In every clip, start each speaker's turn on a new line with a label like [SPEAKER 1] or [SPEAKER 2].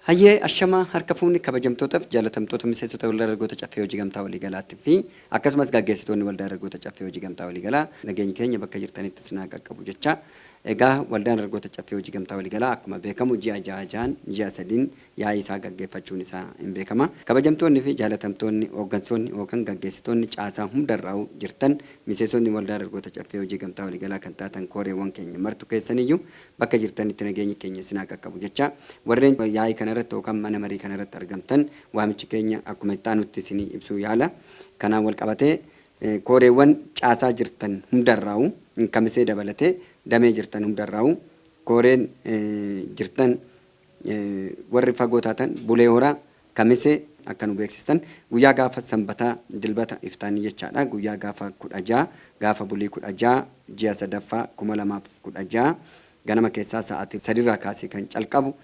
[SPEAKER 1] Hayyee ashamaa harka fuuni kabajamtootaf jaalatamtoota miseensota Waldaa Dargaggoota Caffee Hojii Gamtaa Waliigalaatti fi akkasumas gaggeessitoonni Waldaa Dargaggoota Caffee Hojii Gamtaa Waliigalaa nageenyi keenya bakka jirtanitti isin haa qaqqabu jechaa egaa Waldaan Dargaggoota Caffee Hojii Gamtaa Waliigalaa akkuma beekamu ji'a ja'a ja'an ji'a sadiin yaa'ii isaa gaggeeffachuun isaa in beekama. Kabajamtoonni fi jaalatamtoonni, hooggansoonni yookan gaggeessitoonni caasaa hundarraa'u jirtan, miseesonni Waldaa Dargoota Caffee Hojii Gamtaa Waliigalaa kan taatan kooreewwan keenya martu keessaniyyu bakka jirtanitti nageenyi keenya isin haa qaqqabu jechaa, warreen yaa'ii kana irratti yookan mana marii kana irratti argamtan waamichi keenya akkuma itti aanutti isinii ibsuu yaala. Kanaan walqabatee kooreewwan caasaa jirtan hundarraa'u, Kamisee dabalatee damee jirtan hundarraa'u kooreen jirtan, Warri fagoo taatan Bulee Horaa, Kamisee, akka nu beeksistan. Guyyaa gaafa Sanbataa, Dilbata, Iftaanii jechaadha. Guyyaa gaafa 16, gaafa bulii 16, ji'a 3ffaa, 2016, ganama keessaa sa'aatii 3 irraa kaasee kan calqabu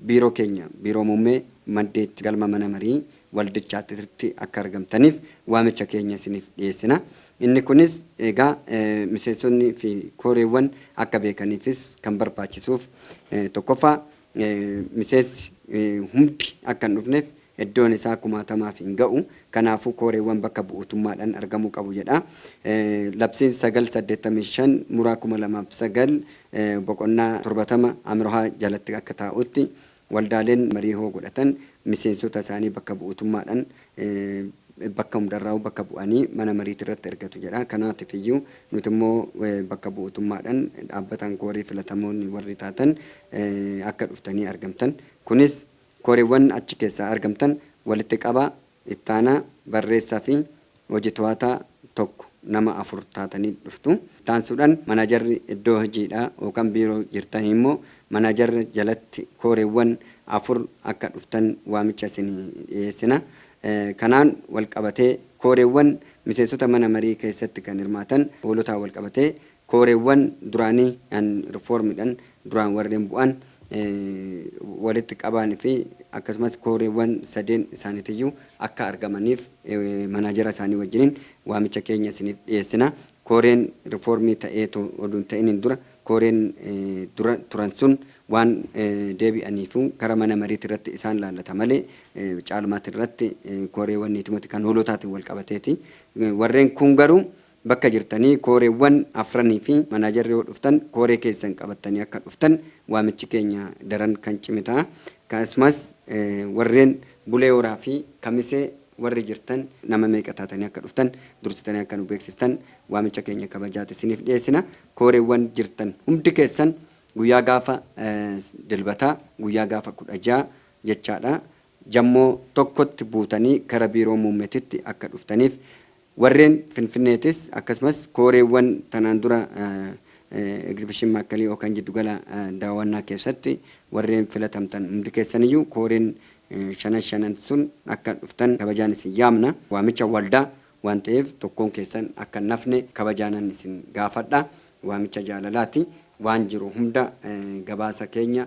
[SPEAKER 1] Biiroo keenya, Biiroo Muummee, Maddeetti, Galma Mana Marii waldichaattirtti akka argamtaniif waamicha keenya isiniif dhiyeessina. Inni kunis egaa miseensonni fi kooreewwan akka beekaniifis kan barbaachisuuf tokkoffaa miseensi hundi akka hin dhufneef eddoon isaa kumaatamaaf hin ga'u. Kanaafuu kooreewwan bakka bu'uutummaadhan argamuu qabu jedha. Labsiin 9 85 Muraa 2009 boqonnaa 70 Amroha jalatti akka taa'utti Waldaaleen marii hoo godhatan miseensota isaanii bakka bu'utummaadhan bakka hundarraahuu bakka bu'anii mana mariitirratti ergatu jedha. Kanaatif iyyuu nuti immoo bakka bu'utummaadhan dhaabbataan koorii filatamoon warri taatan akka dhuftanii argamtan. Kunis koreewwan achi keessaa argamtan walitti qabaa Ittaanaa barreessaa fi hoji to'ataa 1, nama 4 taatanii dhuftu. Ittaansuudhan manajarri iddoo hojiidhaa yookan biiroo jirtanii immoo manajarra jalatti kooreewwan 4 akka dhuftan waamicha isinii dhiyeessina. Kanaan walqabatee kooreewwan miseensota mana marii keessatti kan hirmaatan hoolotaan walqabatee Kooreewwan duraanii and reform dhan duraan warreen bu'an walitti qabaan fi akkasumas kooreewwan sadeen isaanitiyyuu akka argamaniif manaajera isaanii wajjiniin waamicha keenya isiniif dhiyeessina. Kooreen rifoormii ta'ee otuu hin ta'iniin dura kooreen dura turan sun waan deebi'aniifuu kara mana mariiti irratti isaan laallata malee caalmaati irratti kooreewwan niitimati kan hoolotaatiin wal qabateeti. Warreen kuun garuu Bakka jirtanii kooreewwan afranii fi manaajarri yoo dhuftan kooree keessan qabattanii akka dhuftan waamichi keenya daran kan cime ta'a. Akkasumas warreen Bulee Horaa fi Kamisee warri jirtan nama meeqa taatanii akka dhuftan dursitanii akka nu beeksistan waamicha keenya kabajaati isiniif dhiyeessina. Kooreewwan jirtan hundi keessan guyyaa gaafa Dilbataa guyyaa gaafa 16 jechaadha Jammoo tokkotti buutanii gara Biiroo Muummetitti akka dhuftaniif, warreen Finfinneetis akkasumas kooreewwan tanaan dura Egzibishin Maakkalii yookaan Jiddugala Daawwannaa keessatti warreen filatamtan hundi keessaniyyuu kooreen shanan shanan sun akka dhuftan kabajaan isin yaamna. Waamicha waldaa waan ta'eef tokkoon keessan akka hin hafne kabajaanan isin gaafadha. Waamicha jaalalaati. Waan jiru hunda gabaasa keenya.